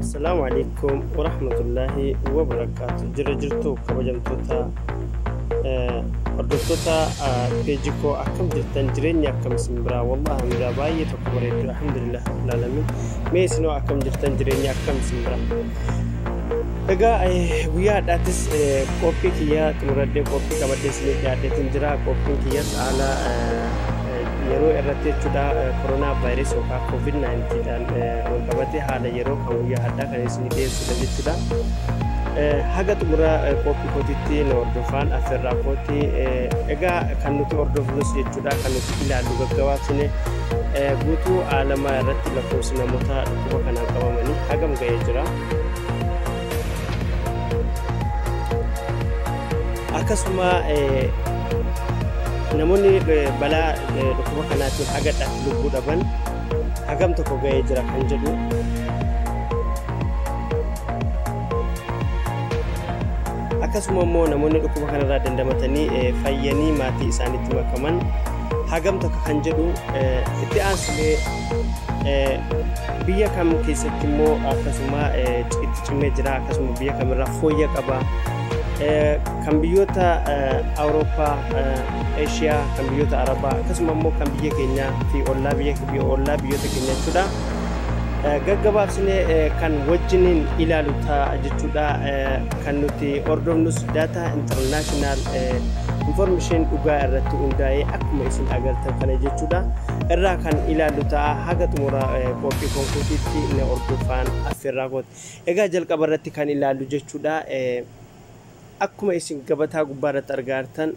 Assalamu alaikum wa rahmatullahi wa barakatuh. Jira jirtu kabajamtoota eh, hordoftoota ah, peeji koo akkam jirtan jireenya akkam isin biraa wallahi miraa baay'ee tokko bareeddu alhamdulillah rabbil alamin mee isinoo akkam jirtan jireenya akkam isin biraa Egaa eh, guyyaa har'aattis eh, qophii kiyyaa xumuradhee qophii qabadhee isiniif dhiyaadheetiin jira qophiin kiyyas haala eh, yeroo irratti jechuudha koronaa vaayirees yookaan koovid 19 dhaan wal qabatee haala yeroo kan guyyaa haddaa kan isin dhiyeessudha jechuudha. Haga xumura qophii kootiitti na hordofaan affeerraa kooti. Egaa kan nuti hordofnus jechuudha kan nuti ilaallu gaggabaabsine guutuu aalamaa irratti lakkoofsi namoota dhukkuba kanaan qabamanii hagam ga'ee jira. akkasuma namoonni balaa dhukkuba kanaatiin hagadha lubbuu dhaban hagam tokko ga'ee jira kan jedhu akkasuma immoo namoonni dhukkuba kanarraa dandamatanii fayyanii maatii isaaniitti makaman hagam tokko kan jedhu itti aansulee biyya kam keessatti immoo akkasuma itti cimee jira akkasuma biyya kamirraa fooyya qaba kan biyyoota awurooppaa eeshiyaa kan biyyoota arabaa akkasuma immoo kan biyya keenyaa fi ollaa biyya ollaa biyyoota keenya jechuudha gaggabaabsinee kan wajjiniin ilaalu ta'a jechuudha kan nuti hordofnus Star International information dhugaa irratti hundaa'ee akkuma isin agartan kana jechuudha. Irraa kan ilaallu ta'a haga xumura qophii konkuutiitti na hordofaan affeerraa kooti. Egaa jalqaba irratti kan ilaallu jechuudha. Akkuma isin gabataa gubbaa irratti argaa jirtan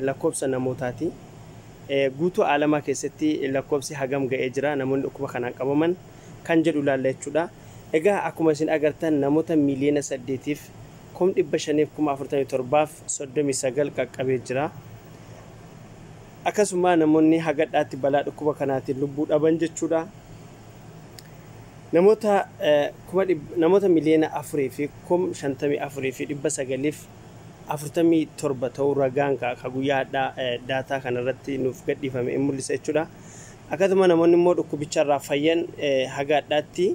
lakkoofsa namootaati. Guutuu aalamaa keessatti lakkoofsi hagam ga'ee jira namoonni dhukkuba kanaan qabaman kan jedhu ilaalla jechuudha. Egaa akkuma isin agartan namoota miiliyoona saddeetiif kum 500 fi kuma 47 fi 39 qaqqabee jira. Akkasumaa namoonni hagadhaatti balaa dhukkuba kanaatiin lubbuu dhaban jechuudha. Namoota kuma namoota miliyoona 4 fi kum 54 fi 947 ta'uu ragaan ka guyyaa hadhaa daataa kanarratti nuuf gadhiifame in mul'isa jechuudha. Akkasuma namoonni immoo dhukkubicharraa fayyan haga hadhaatti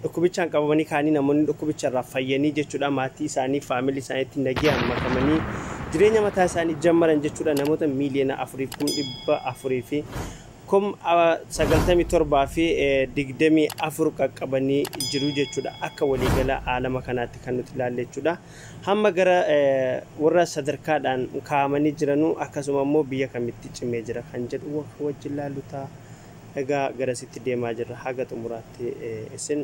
Dhukkubichaan qabamanii kaanii namoonni dhukkubicha irraa fayyanii jechuudha maatii isaanii faamilii isaaniitti nagayaan makamanii jireenya mataa isaanii jammaran jechuudha namoota miiliyoona afuriif kum dhibba afurii fi kum sagaltamii torbaa fi digdamii afur qaqqabanii jiru jechuudha akka waliigala aalama kanaatti kan nuti ilaalle jechuudha hamma gara warra sadarkaadhaan kaa'amanii jiranuu akkasuma immoo biyya kamitti cimee jira kan jedhu wajjin ilaallu ta'a. Egaa garasitti deemaa jirra haga xumuraatti isin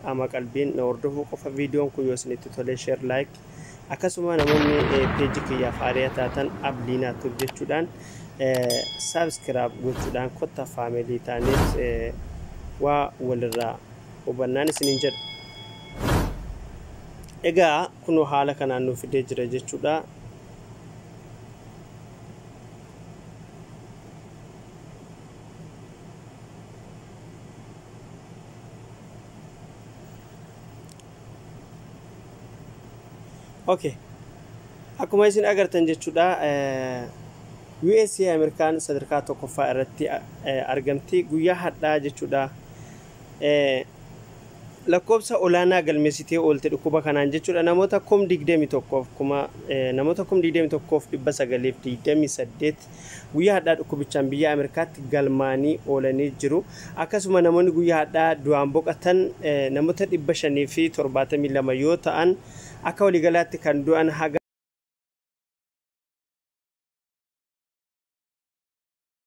qaama qalbiin na hordofuu qofa viidiyoon kun yoo isinitti tolee share like akkasuma namoonni peeji kiyyaaf haariyaa taatan abliinaa tuub jechuudhaan saabskiraab gochuudhaan kotta faameelii taaniis waa walirraa hubannaan isiniin jedha. Egaa kunoo haala kanaan nu fidee jira jechuudha. Okay. Akkuma isin agartan jechuudha USA Ameerikaan sadarkaa tokkoffaa irratti argamti guyyaa hadhaa jechuudha lakkoobsa olaanaa galmeessitee oolte dhukkuba kanaan jechuudha namoota kum digdami tokkoof kuma namoota kum digdami tokkoof dhibba sagaliif digdami saddeet guyyaa hadhaa dhukkubichaan biyyaa Ameerikaatti galmaanii oolanii jiru. Akkasuma namoonni guyyaa hadhaa du'aan boqatan namoota 572 yoo ta'an akka waliigalaatti kan du'an haga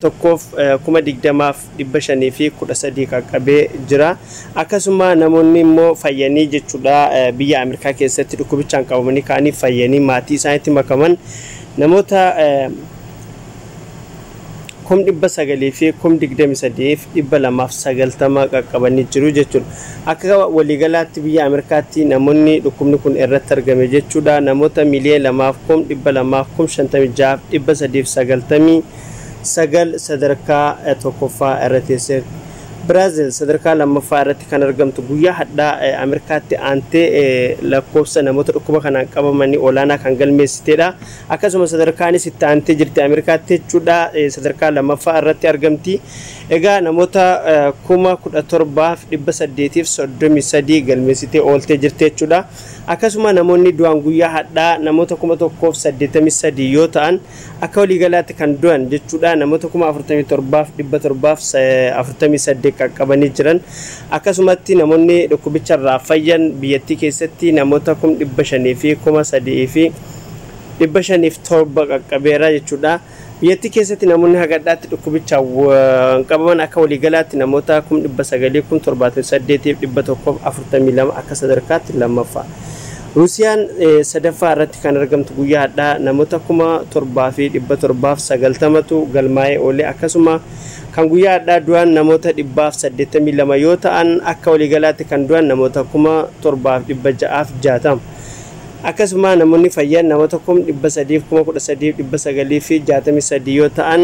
1,020 513 qaqqabee jira. Akkasuma namoonni immoo fayyanii jechuudha biyya Ameerikaa keessatti dhukkubichaan qabamanii ka'anii fayyanii maatii isaaniitti makaman namoota 923,290 qaqqabanii jiru jechuudha. Akka waliigalaatti biyya Ameerikaatti namoonni dhukkubni kun irratti argame jechuudha namoota miiliyoona 2,256,390 9 sadarkaa 1ffaa irra teesse. Biraazil sadarkaa 2ffaa irratti kan argamtu guyyaa hadhaa Ameerikaatti aantee lakkoofsa namoota dhukkuba kanaan qabamanii olaanaa kan galmeessiteedha. Akkasuma sadarkaanis itti aantee jirti Ameerikaatti jechuudha sadarkaa 2ffaa irratti argamti. Egaa namoota 17,833 galmeessitee ooltee jirti jechuudha. Akkasuma namoonni du'an guyyaa hadhaa namoota 1,083 yoo ta'an Akka waliigalaatti kan du'an jechuudha namoota 47,748 qaqqabanii jiran. Akkasumatti namoonni dhukkubicharraa fayyan biyyattii keessatti namoota 503,507 qaqqabeera jechuudha. Biyyattii keessatti namoonni hagadhaatti dhukkubichaan qabaman akka waliigalaatti namoota 900,078,142 akka sadarkaatti lammaffaa. Ruusiyaan sadaffaa irratti kan argamtu guyyaa hadhaa namota 7,790tu galmaa'ee oole akkasuma kan guyyaa hadhaa du'an namoota 182 yoo ta'an akka waliigalaatti kan du'an namoota 7,660 akkasuma namoonni fayyan namota 313,963 yoo ta'an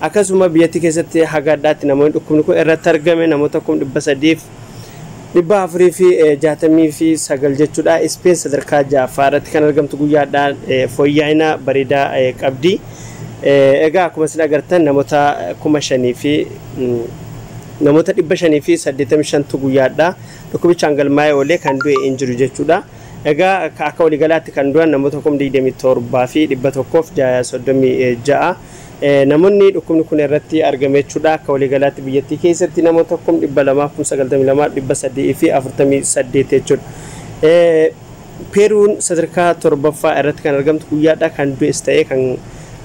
Akkasuma biyyattii keessatti haga adhaatti namoonni dhukkubni kun irratti argame namoota kum 300 fi 469 jechuudha. Ispeen sadarkaa 6ffaa irratti kan argamtu guyyaa adhaa fooyyaa'ina bareedaa qabdi. Egaa akkuma isin agartan namoota kuma shanii fi namoota 585tu guyyaa adhaa dhukkubichaan galmaa'ee oolee kan du'e hin jiru jechuudha. Egaa akka waliigalaatti kan du'an namoota kum 27 fi 136 Namonni dhukkubni kun irratti argame jechuudha. Akka waliigalaatti biyyattii keessatti namoota kum 200 kum 92 348 jechuudha. Peeruun sadarkaa torbaffaa irratti kan argamtu guyyaadha kan du'es ta'ee kan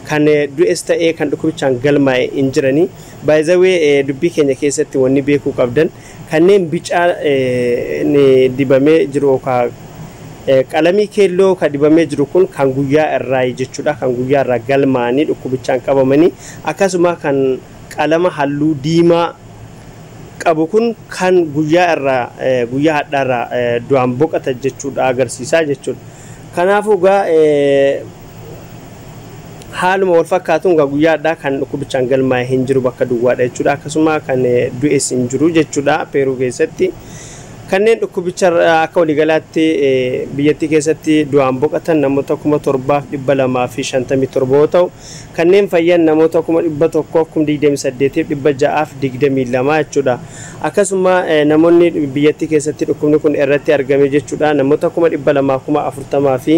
kan du'es ta'ee kan dhukkubichaan galmaa'e hin jirani. Baay'izawee dubbii keenya keessatti wanni beekuu qabdan kanneen bicaan dibamee jiru yookaan qalamii keelloo kan dibamee jiru kun kan guyyaa irraayi jechuudha. Kan guyyaa irraa galmaa'anii dhukkubichaan qabamanii akkasuma kan qalama halluu diimaa qabu kun kan guyyaa irraa guyyaa hadhaa irraa du'aan boqatan jechuudha agarsiisaa jechuudha. Kanaafuu egaa Haaluma wal fakkaatuun egaa guyyaa har'aa kan dhukkubichaan galmaa'e hin jiru bakka duwwaadha jechuudha. Akkasuma kan du'es hin jiru jechuudha Peeruu keessatti. Kanneen dhukkubicha akka waliigalaatti biyyattii keessatti du'aan boqatan namoota kuma torbaaf dhibba lamaa fi shantamii torba yoo ta'u, kanneen fayyan namoota kuma dhibba tokkoof kum digdamii saddeetiif dhibba ja'aaf digdamii lama jechuudha. Akkasuma namoonni biyyattii keessatti dhukkubni kun irratti argame jechuudha namoota kuma dhibba lamaa kuma afurtamaa fi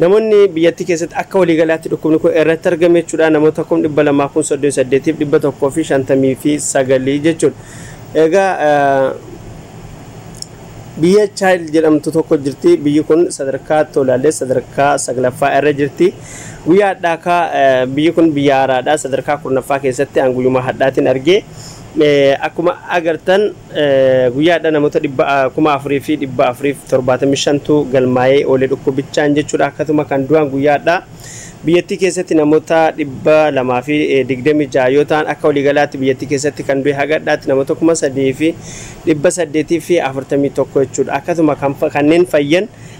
Namoonni biyyattii keessatti akka waliigalaatti dhukkubni kun irratti argame jechuudha namoota kum 200 kun 38f 159 jechuudha. Egaa biyya Chaayil jedhamtu tokko jirti. Biyyi kun sadarkaa tolaallee sadarkaa saglaffaa irra jirti. Guyyaa hadhaakaa biyyi kun biyya haaraadha. Sadarkaa kurnaffaa keessatti aan guyyumaa hadhaatiin argee. Akkuma agartan guyyaa hadha namoota 4,475tu galmaa'ee oole dhukkubichaan jechuudha. Akkasuma kan du'an guyyaa hadha biyyattii keessatti namoota 226 yoo ta'an akka waliigalaatti biyyattii keessatti kan du'e haga hadhaatti namoota 3,841 jechuudha. Akkasuma kanneen fayyan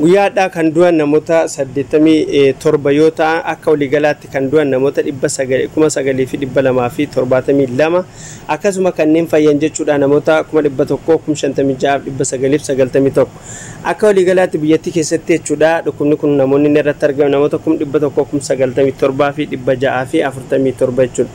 Guyyaa hadhaa kan du'an namota 87 yoo ta'an akka waliigalaatti kan du'an namota 9,272 akkasuma kanneen fayyan jechuudha namota 100,056,991 akka waliigalaatti biyyattii keessatti jechuudha dhukkubni kun namoonni inni irratti argame namota 100,097,647 jechuudha.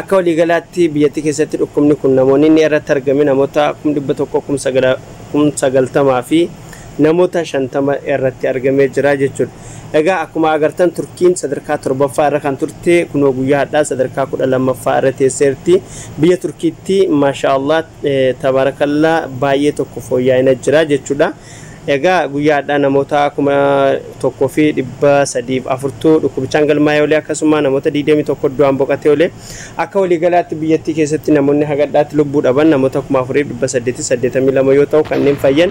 Akka waliigalaatti biyyattii keessatti dhukkubni kun namoonni inni irratti argame namoota kum 100 kum 90 fi namoota 50 irratti argamee jira jechuudha. Egaa akkuma agartan Turkiin sadarkaa 7ffaa irra kan turte kunoo guyyaa hadhaa sadarkaa 12ffaa irra teesseerti. Biyya Turkiitti maashaa Allah tabaarakallaa baay'ee tokko fooyyaa'ina jira jechuudha. Egaa guyyaa hadhaa namoota 1304 tu dhukkubichaan galmaa'ee olee akkasumaa namoota 21 du'aan boqatee olee. Akka walii galaatti biyyattii keessatti namoonni haga hadhaatti lubbuu dhaban namoota 4882 yoo ta'u kanneen fayyan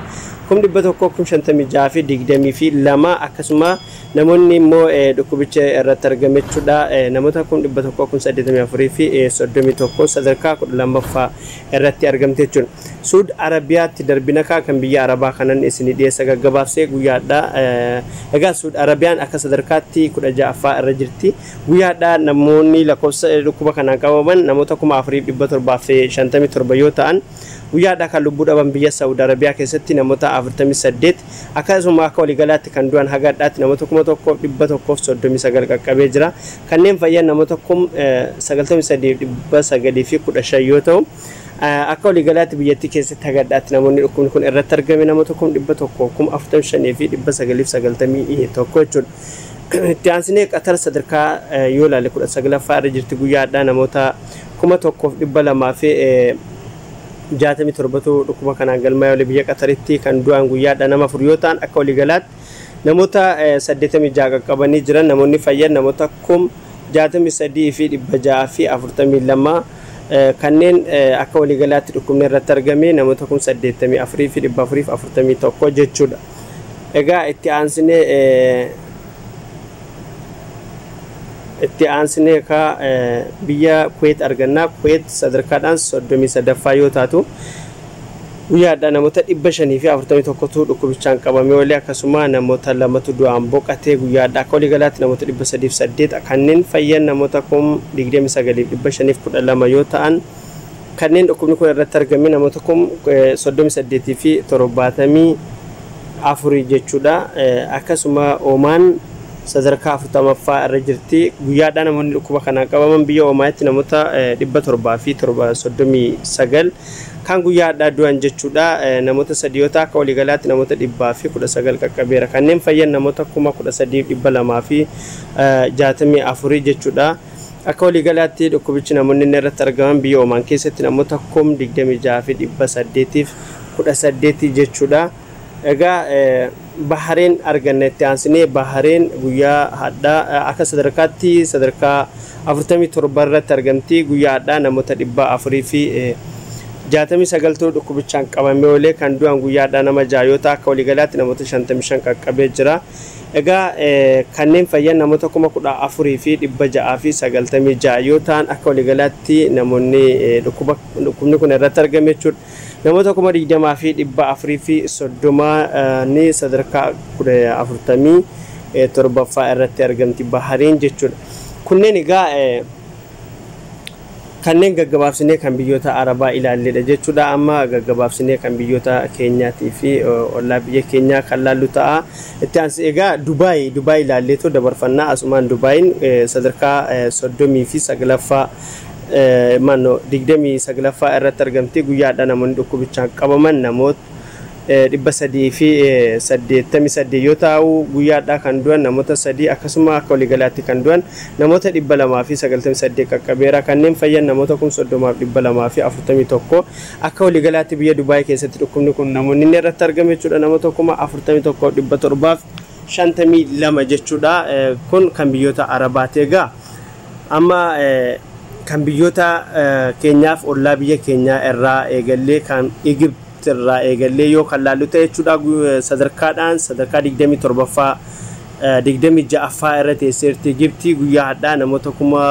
100,056,022 akkasumaa namoonni immoo dhukkubicha irratti argamechudha namoota 100,084,031 sadarkaa 12ffaa irratti argamte jechuun suud arabiyaatti darbinakaa kan biyya arabaa kanan isini dhiyeessa gaggabaabsee guyyaadhaa egaa suud arabiyaan akka sadarkaatti 16ffaa irra jirti guyyaadhaa namoonni lakkoofsa dhukkuba kanaan qabaman namoota 4757 yoo ta'an guyyaadhaa kan lubbuu dhaban biyya saud arabiyaa keessatti namoota 48 Akkasuma akka waligalaatti kan du'an haga hadhaatti namoota 1,139 qaqqabee jira. Kanneen fayyan namoota kum 93,915 yoo ta'u, akka waligalaatti biyyattii keessatti haga hadhaatti namoonni dhukkubni kun irratti argame namoota kum 100, kum 45,991 jechuudha. Itti aansinee Qatar sadarkaa yoo ilaalle 19ffaa irra jirti guyyaa hadhaa namoota 1,200 fi 67tu dhukkuba kanaan galmaa'ee oole biyya Qataritti kan du'aan guyyaadha nama 4 yoo ta'an akka waliigalaatti namoota 86 qaqqabanii jiran namoonni fayyan namoota 63,642 kanneen akka waliigalaatti dhukkubni irratti argame namoota 84,441 jechuudha. Egaa itti aansinee Itti aansinee ka biyya Kuweet arganna. Kuweet sadarkaadhaan 33ffaa yoo taatu, guyyaa hadhaa namoota 541tu dhukkubichaan qabamee oole, akkasuma namoota lamatu du'aan boqate. Guyyaa hadhaa akka waliigalaatti namoota 308 kanneen fayyan namoota kum 29fi 512 yoo ta'an, Kanneen dhukkubni kun irratti argame namoota kum 38 fi 74 jechuudha. Akkasuma Oomaan sadarkaa 40ffaa irra jirti. Guyyaa har'aa namoonni dhukkuba kanaan qabaman biyya Oomaanitti namoota 739 kan guyyaa har'aa du'an jechuudha. Namoota sadii yoo ta'u akka waliigalaatti namoota 119 qaqqabeera. Kanneen fayyan namoota 13,264 jechuudha. Akka waliigalaatti dhukkubichi namoonni inni irratti argaman biyya Omaan keessatti namoota kum 26 fi 800f 18 jechuudha. Egaa Bahareen arganna itti aansinee Bahareen guyyaa hadhaa akka sadarkaatti sadarkaa 47 irratti argamti guyyaa hadhaa namoota 400 fi 69tu dhukkubichaan qabamee oolee kan du'an guyyaa hadhaa nama 6 yoo ta'a akka waliigalaatti namoota 55 qaqqabee jira. Egaa kanneen fayyan namoota 14,696 yoo ta'an akka waligalaatti namonni dhukkubni kun irratti argame jechuudha. Namoota 20,430 ni sadarkaa 47ffaa irratti argamti Bahariin jechuudha. Kunneen egaa Kanneen gaggabaabsinee kan biyyoota Arabaa ilaalledha jechuudha. Amma gaggabaabsinee kan biyyoota keenyaatii fi ollaa biyya keenyaa kan laallu ta'a. Itti aansi egaa Dubaay Dubaay ilaalleetoo dabarfanna. Asumaan Dubaayin sadarkaa 39ffaa maannoo 29ffaa irratti argamti. Guyyaa har'aa namoonni dhukkubichaan qabaman namoota 388 yoo taa'uu guyyaa hadhaa kan du'an namoota 3 akkasuma akka waligalaatti kan du'an namoota 298 qaqqabeera kanneen fayyan namoota 30,241 akka waligalaatti biyya Dubai keessatti dhukkubni kun namoonni inni irratti argame jechuudha namoota 41,752 jechuudha kun kan biyyoota Arabaati egaa Amma kan biyyoota keenyaaf ollaa biyya keenyaa irraa eegallee kan Egypt irraa eegallee yoo kan laallu ta'e jechuudha sadarkaadhaan sadarkaa 27ffaa 26ffaa irra teesseerti Egypt guyyaa hadhaa namoota kuma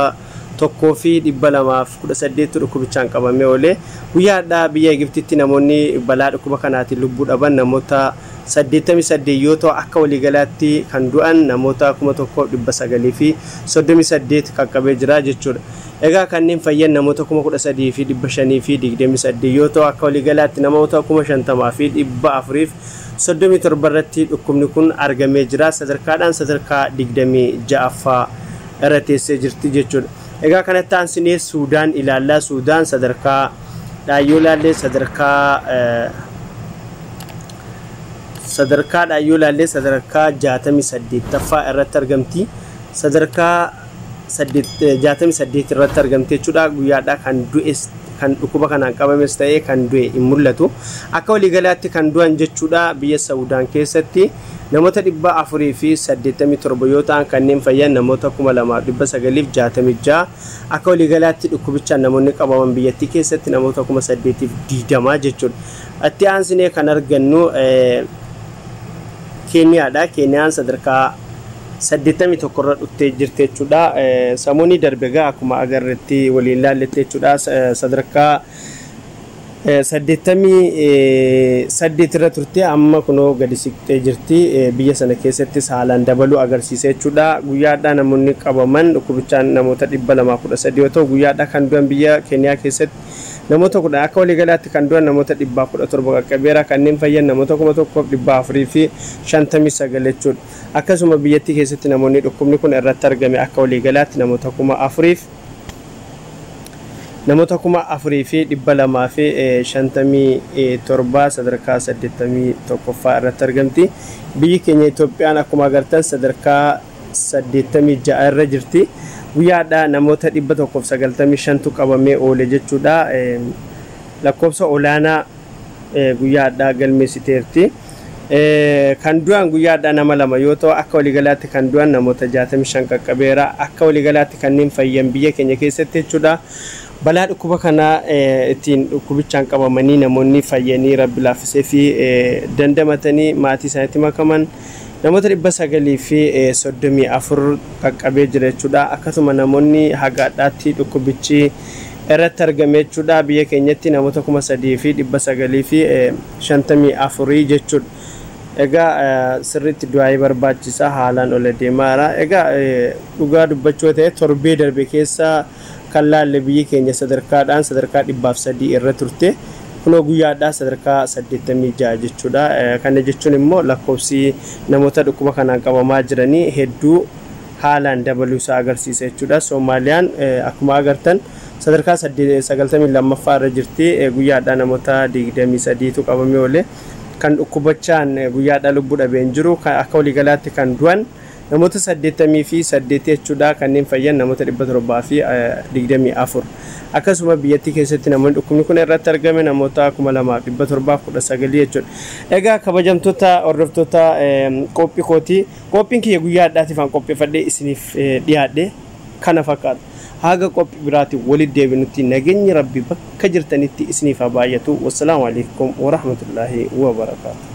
tokkoo fi 218 dhukkubichaan qabamee oolee guyyaa hadhaa biyya Egyptitti namoonni balaa dhukkuba kanaatiin lubbuu dhaban namoota 88 yoo ta'u akka waliigalaatti kan du'an namoota 1938 qaqqabee jira jechuudha. Egaa kanneen fayyan namoota 13,528 yoo ta'u akka waliigalaatti namoota 50,437 irratti dhukkubni kun argamee jira. Sadarkaadhaan sadarkaa 26ffaa irra teessee jirti jechuudha. Egaa kanatti aansinee Suudaan ilaalla. Suudaan sadarkaa dhaan yoo ilaallee sadarkaa sadarkaa dhaan yoo ilaallee sadarkaa 68ffaa irratti argamti. Sadarkaa 68 irratti argamti jechuudha. Guyyaadhaa kan du'es kan dhukkuba kanaan qabames ta'ee kan du'e hin mul'atu. Akka waliigalaatti kan du'an jechuudha biyya Sawudaan keessatti namoota 487 yoo ta'an kanneen fayyan namoota 2966 Akka waliigalaatti dhukkubichaan namoonni qabaman biyyattii keessatti namoota 8,020 jechuudha. Itti aansinee kan argannu Keeniyaadha. Keeniyaan sadarkaa 81 irra dhuftee jirti jechuudha. Samuunii darbe egaa akkuma agarretti waliin laalletti jechuudha. Sadarkaa 88 irra turte amma kunoo gadi siqxee jirti. Biyya sana keessatti saalaan dabaluu agarsiisa jechuudha. Guyyaa har'aa namoonni qabaman dhukkubichaan namoota 213 yoo ta'u, guyyaa har'aa kan du'an biyya Keeniyaa keessatti namoota 10 akka waliigalaatti kan du'an namoota 117 qaqqabeera. Kanneen fayyan namoota 1,459 jechuudha. Akkasuma biyyattii keessatti namoonni dhukkubni kun irratti argame akka waliigalaatti namoota 4,000. Namoota 4257 sadarkaa 81ffaa irratti argamti. Biyyi keenya Itoophiyaan akkuma agartan sadarkaa 86 irra jirti. Guyyaa har'aa namoota 195tu qabamee oole jechuudha. Lakkoofsa olaanaa guyyaa har'aa galmeessiteerti. Kan du'an guyyaa har'aa nama 2 yoo ta'u akka waligalaatti kan du'an namoota 65 qaqqabeera. Akka waligalaatti kanneen fayyan biyya keenya keessatti jechuudha. Balaa dhukkuba kanaa ittiin dhukkubichaan qabamanii namoonni fayyanii rabbi laaffiseefi dandamatanii maatii isaaniitti makaman namoota 934 qaqqabee jira jechuudha. Akkasuma namoonni haga har'aatti dhukkubichi irratti argame jechuudha. Biyya keenyatti namoota 3900 fi 54 jechuudha. Egaa sirriitti du'aa'ii barbaachisa haalaan ol adeemaara. Egaa dhugaa dubbachuu yoo ta'e torbee darbe keessa kan laalle biyyi keenya sadarkaadhaan sadarkaa 103 irra turte. Kunoo guyyaadhaa sadarkaa 86 jechuudha. Kana jechuun immoo lakkoofsi namoota dhukkuba kanaan qabamaa jiranii hedduu haalaan dabaluu isaa agarsiisa jechuudha. Soomaaliyaan akkuma agartan Sadarkaa 92ffaa irra jirti. Guyyaa hadhaa namota 23 tu qabamee oole. Kan dhukkubachaan guyyaa hadhaa lubbu dhabe hin jiru. Akka waliigalaatti kan du'an namota 88 jechuudha. Kanneen fayyan namota 724. Akkasuma biyyattii keessatti namoonni dhukkubni kun irratti argame namota 2719 jechuudha. Egaa kabajamtoota hordoftoota qoophi kooti. Qoophiin kiyya guyyaa hadhaatiif an qopheeffadhee isiniif dhiyaadhe. kana fakkaatu. Haga qophi biraatin wali debinutti nagenyi rabbi bakka jirtanitti isiniif haa baayatu wassalamu aleykum warahmatullahi wabarakatu.